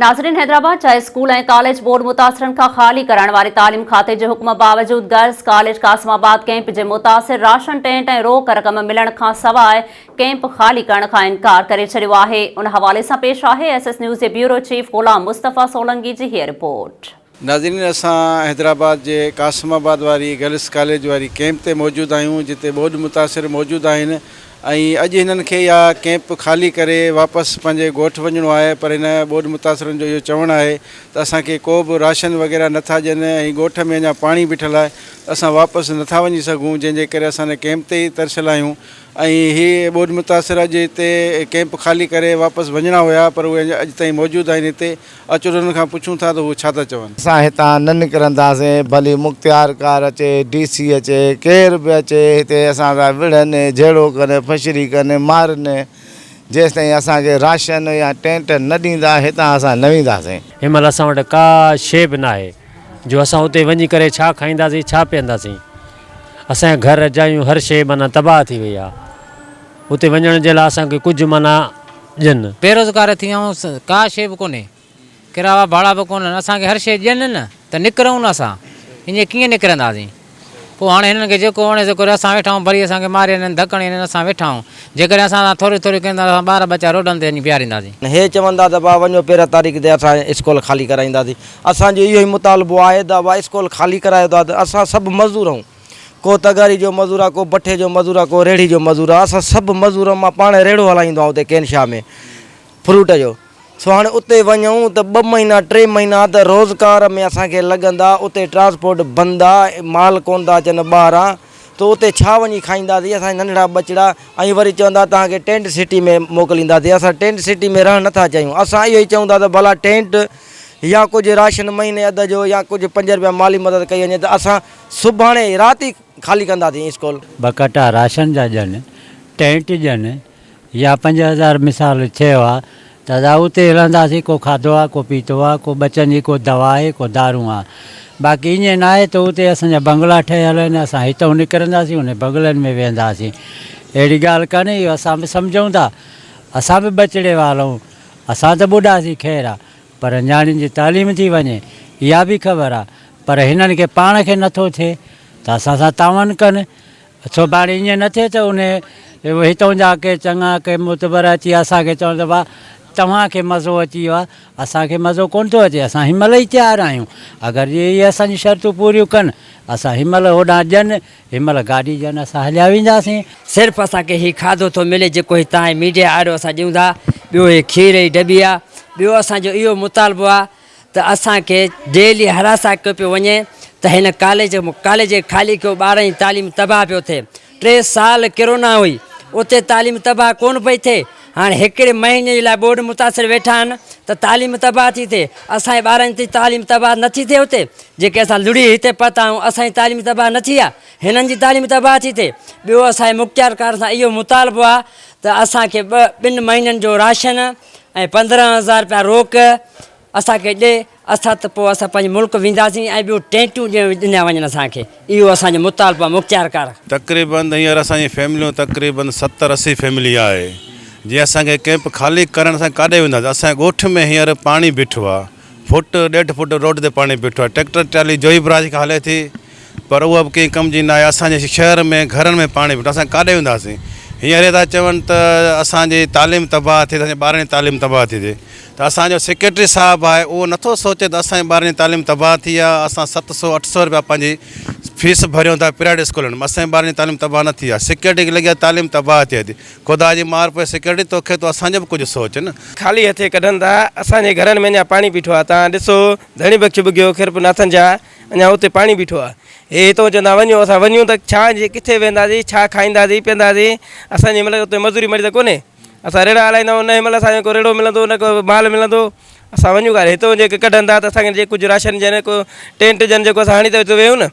ناظرين حيدرآباد جا اسڪول ۽ ڪاليج بورڊ متاثرن کان خالي ڪرائڻ واري تعليم کاتي جي حڪم باوجود girls college Qasimabad camp جي متاثر راشن ٽينٽ ۽ روڪ رقم ملڻ کان سواء ڪيمپ خالي ڪرڻ کان انڪار ڪري ڇڏيو آهي ان حوالي سان پيش آهي ايس ايس نيوز جي بيورو چيف غلام مصطفيٰ سولنگي جي هيء رپورٽ. ناظرين اسان حيدرآباد جي قاسم آباد واري گرلس ڪاليج واري ڪيمپ تي موجود آهيون جتي ٻوڏ متاثر موجود آهن ۽ اڄ هنن کي اها ڪيمپ خالي ڪري واپس پنهنجي ڳوٺ وڃڻو آهي پر هن ٻوڏ متاثرن جو اهو چوڻ آهي ته اسان کي ڪو به راشن وغيره نه ٿا ڏين ۽ ڳوٺ ۾ اڃا پاڻي بيٺل آهي ته اسان واپس نه ٿا وڃي سگهون جنهن جي ڪري اسان هن ڪيمپ تي ئي ترسيل آهيون ۽ هي ٻوڏ متاثر اڄ هتي ڪيمپ خالي ڪري واپس وڃڻا هيا پر اهي اڄ تائين موجود آهن هتي اچ انهن کان پڇون ٿا ته هو ڇا ٿا چون. اسان هتان نه نڪرنداسين، ڀلي مختيارڪار اچي، ڊي سي اچي، ڪير به اچي، هتي اسان سان وڙهن، جهيڙو ڪن، ڦشري ڪن، مارن، جيستائين اسان کي راشن يا ٽينٽ نه ڏيندا، هتان اسان نه وينداسين. هن مهل اسان وٽ ڪا شيء به ناهي، جو اسان اتي وڃي ڪري ڇا کائينداسين، ڇا پيئنداسين. اسان جا گهر، جايون، هر شيء معنيٰ تباهه ٿي وئي آهي. اتي وڃڻ جي لاء اسان کي ڪجهه منا ڏين. بيروزگار ٿي ويا آهيون ڪا شيء به ڪونهي ڪرايا ڀاڙا به ڪونهن اسان کي هر شيء ڏين نه ته نڪرون نه اسان ائين ڪيئن نڪرنداسين پوء هاڻي هنن کي جيڪو وڻي سو ڪري اسان ويٺا آهيون ڀلي اسان کي ماري وڃن ڌڪ هڻي وڃن اسان ويٺا آهيون جيڪڏهن اسان سان ٿوري ٿوري ڪن ٿا ته اسان ٻار ٻچا روڊن تي وڃي بيهارينداسين. هي چون ٿا ته ڀاء وڃو پيرهن تاريخ تي اسان اسڪول خالي ڪرائينداسين اسان جو اهو ئي مطالبو آهي ته ڀاء اسڪول خالي ڪرايو ته اسان سڀ مزدور آهيون. ڪو تغاري جو مزور آ، ڪو بٺي جو مزور آ، ڪو ريڙهي جو مزور آ، اسان سڀ مزور مان پاڻ ريڙهو هلائي ايندو آهيون اتي ڪين شاهه ۾ فروٽ جو، سو هاڻي اتي وڃون ته ٻه مهينا ٽي مهينا ته روزگار ۾ اسان کي لڳندا، اتي ٽرانسپورٽ بند آ، مال ڪونه ٿا اچن ٻاهران ته اتي ڇا وڃي کائينداسين اسان جا ننڍڙا ٻچڙا ۽ وري چوندا توهان کي ٽينٽ سٽي ۾ موڪلينداسين، اسان ٽينٽ سٽي ۾ رهڻ نٿا چاهيون، اسان اهو ئي چئون ٿا ته ڀلا ٽينٽ يا ڪجهه راشن مهيني اڌ جو يا ڪجهه پنج رپيا مالي مدد ڪئي وڃي ته اسان سڀاڻي رات ئي خالي ڪنداسين اسڪول. ٻه ڪٽا راشن جا ڄن، ٽينٽ ڄن، يا پنج هزار مثال ڇهه هئا ته اسان اتي ئي رهنداسين، ڪو کاڌو آ، ڪو پيتو آ، ڪو ٻچن جي ڪو دوا آهي، ڪو دارون آ. باقي ائين ناهي ته اتي اسان جا بنگلا ٺهيل آهن، اسان هتئون نڪرنداسين انهن بنگلن ۾ ويهنداسين. اهڙي ڳالهه ڪانهي، اهو اسان به سمجهون ٿا، اسان به ٻچڙي وارا آهيون، اسان ته ٻڍا سين خير آ، پر نياڻين جي تعليم ٿي وڃي اها به خبر آ پر هنن کي پاڻ کي نٿو ٿئي ته اسان سان تعاون ڪن سڀاڻي ائين نه ٿئي ته انهي هتون جا ڪي چڱا ڪي معتبر اچي اسان کي چون ته واھ توهان کي مزو اچي ويو آ اسان کي مزو ڪونه ٿو اچي اسان هن مهل ئي تيار آهيون اگر جي اهي اسان جون شرطون پوريون ڪن اسان هن مهل هوڏانهن ڄن هن مهل گاڏي جي آن اسان هليا وينداسين. صرف اسان کي هي کاڌو ٿو ملي جيڪو هتان هي ميڊيا آريو اسان ڏيون ٿا ٻيو هي کير هي ڊٻي آ ٻيو اسان جو اهو مطالبو آ ته اسان کي ڊيلي هراسان ڪيو پيو وڃي ته هن ڪاليج ڪاليج کي خالي ڪيو ٻارن جي تعليم تباهه پيو ٿئي ٽي سال ڪرونا هئي اتي تعليم تباهه ڪون پئي ٿئي. هاڻ هڪڙي مهيني جي لاء ٻوڏ متاثر ويٺا آهن ته تعليم تباهه ٿي ٿئي اسان جي ٻارن جي تعليم تباهه نه ٿي ٿئي اتي جيڪي اسان لڙهي هتي پهتا آهيون اسان جي تعليم تباهه نه ٿي آهي هنن جي تعليم تباهه ٿي ٿئي ٻيو اسان جي مختيارڪارن سان اهو مطالبو آهي ته اسان کي ٻه ٻن مهينن جو راشن ۽ پندرهن هزار روپيا روڪ اسان کي ڏي اٿا ته پوء اسان پنهنجي ملڪ وينداسين ۽ ٻيو ٽينٽون ڏيڻ ڏنا وڃن اسان کي اهو اسان جو مطالبو آهي مختيار ڪار. تقريبن هينئر اسان جي فيمليون تقريبن ستر اسي فيملي آهي جي اسان کي ڪيمپ خالي ڪرڻ اسان ڪاڏي وينداسين اسان جي ڳوٺ ۾ هينئر پاڻي بيٺو آهي فوٽ ڏيڍ فوٽ روڊ تي پاڻي بيٺو آهي ٽيڪٽر ٽرالي جوهي براج کان هلي ٿي پر اها به ڪنهن ڪم جي ناهي، اسان جي شهر ۾ گهرن ۾ پاڻي ڦٽو اسان ڪاڏي وينداسين، هينئر اهي ٿا چون ته اسان جي تعليم تباهه ٿئي ته اسان جي ٻارن جي تعليم تباهه ٿي ٿئي ته اسان جو سيڪريٽري صاحب آهي اهو نٿو سوچي ته اسان جي ٻارن جي تعليم تباهه ٿي آهي اسان ست سو اٺ سو رپيا پنهنجي فيس ڀريون ٿا پرائيويٽ اسڪولن ۾ اسان جي ٻارن جي تعليم تباهه نه ٿي آهي سيڪريٽري کي لڳي آهي تعليم تباهه ٿئي ٿي خدا جي مار پوء سيڪريٽري توکي تو اسان جو به ڪجهه سوچ نه. خالي هٿين ڪڍن ٿا اسان جي گهرن ۾ اڃا پاڻي ٻيٺو آهي توهان ڏسو ڌڻي بخش ٻگهيو خيرپور ناٿن جا. اڃا اتي پاڻي بيٺو آ. هي هتئون چوندا وڃو اسان وڃون ته ڇا جي ڪٿي وينداسين ڇا کائينداسين پيئنداسين اسان جي ملڪ اتي مزوري مڙي ته ڪونهي اسان ريڙا هلائيندائون نه هي ملڪ اسان کي ڪو ريڙو ملندو نه ڪو مال ملندو اسان وڃون ڪا هتئون جي ڪي ڪڍن ٿا ته اسان کي جي ڪجهه راشن جي نه ڪو ٽينٽ جن جي ڪو اسان هڻي ته اتي ويهون نه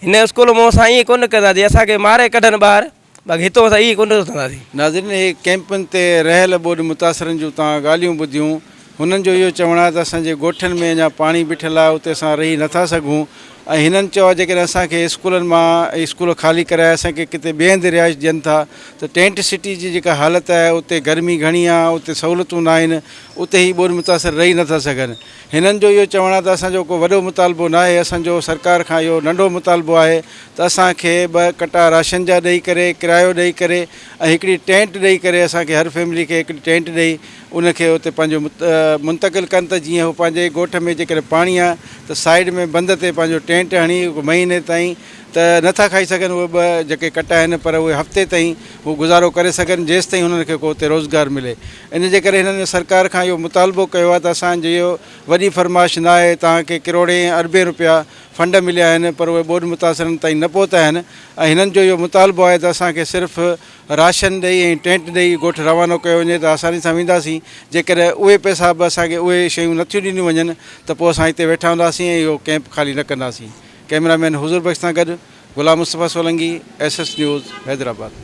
هن اسڪول مون سان ائين ڪونه ڪندا جي اسان کي ماري ڪڍن ٻاهر باقي هتو مٿان اهي ڪونه اٿنداسين. ناظرين اهي ڪئمپن تي رهيل ٻوڏ متاثرن جون توهان ڳالهيون ٻڌيون هنن جو اهو چوڻ آهي ته اسان جي ڳوٺن ۾ اڃا پاڻي بيٺل آهي اتي اسان رهي نٿا سگهون ۽ هنن چيو آهي جيڪڏهن اسان کي اسڪولن مان اسڪول خالي ڪرائي اسان کي ڪٿي ٻئي هنڌ رهائش ڏين ٿا ته ٽينٽ سٽي جي جيڪا حالت آهي اتي گرمي گهڻي آهي اتي سهولتون ناهن اتي هي ٻوڏ متاثر رهي نٿا سگهن هنن جو اهو چوڻ آهي ته اسان جو ڪو وڏو مطالبو ناهي، اسان جو سرڪار کان اهو ننڍو مطالبو آهي ته اسان کي ٻه ڪٽا راشن جا ڏئي ڪري، ڪرايو ڏئي ڪري ۽ هڪڙي ٽينٽ ڏئي ڪري اسان کي هر فيملي کي هڪڙي ٽينٽ ڏئي ان کي اتي پنهنجو منتقل ڪن ته جيئن هو پنهنجي ڳوٺ ۾ جيڪڏهن پاڻي آهي ته سائيڊ ۾ بند تي پنهنجو ٽينٽ هڻي مهيني تائين ته نٿا کائي سگهن اهي ٻه جيڪي ڪٽا آهن پر اهي هفتي تائين هو گذارو ڪري سگهن جيستائين هنن کي ڪو اتي روزگار ملي ان جي ڪري هنن سرڪار کان اهو مطالبو ڪيو آهي ته اسان جي اهو وڏي فرمائش ناهي توهان کي ڪروڙين ۽ اربين رپيا فنڊ مليا آهن پر اهي ٻوڏ متاثرن تائين نه پهتا آهن ۽ هنن جو اهو مطالبو آهي ته اسان کي صرف راشن ڏئي ۽ ٽينٽ ڏئي ڳوٺ روانو ڪيو وڃي ته آساني سان وينداسين جيڪڏهن اهي پئسا به اسان کي اهي شيون نٿيون ڏنيون وڃن ته پوء اسان هتي ويٺا هونداسين ۽ اهو ڪئمپ خالي نه ڪنداسين ڪئميرا مين حضور بخش سان گڏ Ghulam Mustafa Solangi S S news Hyderabad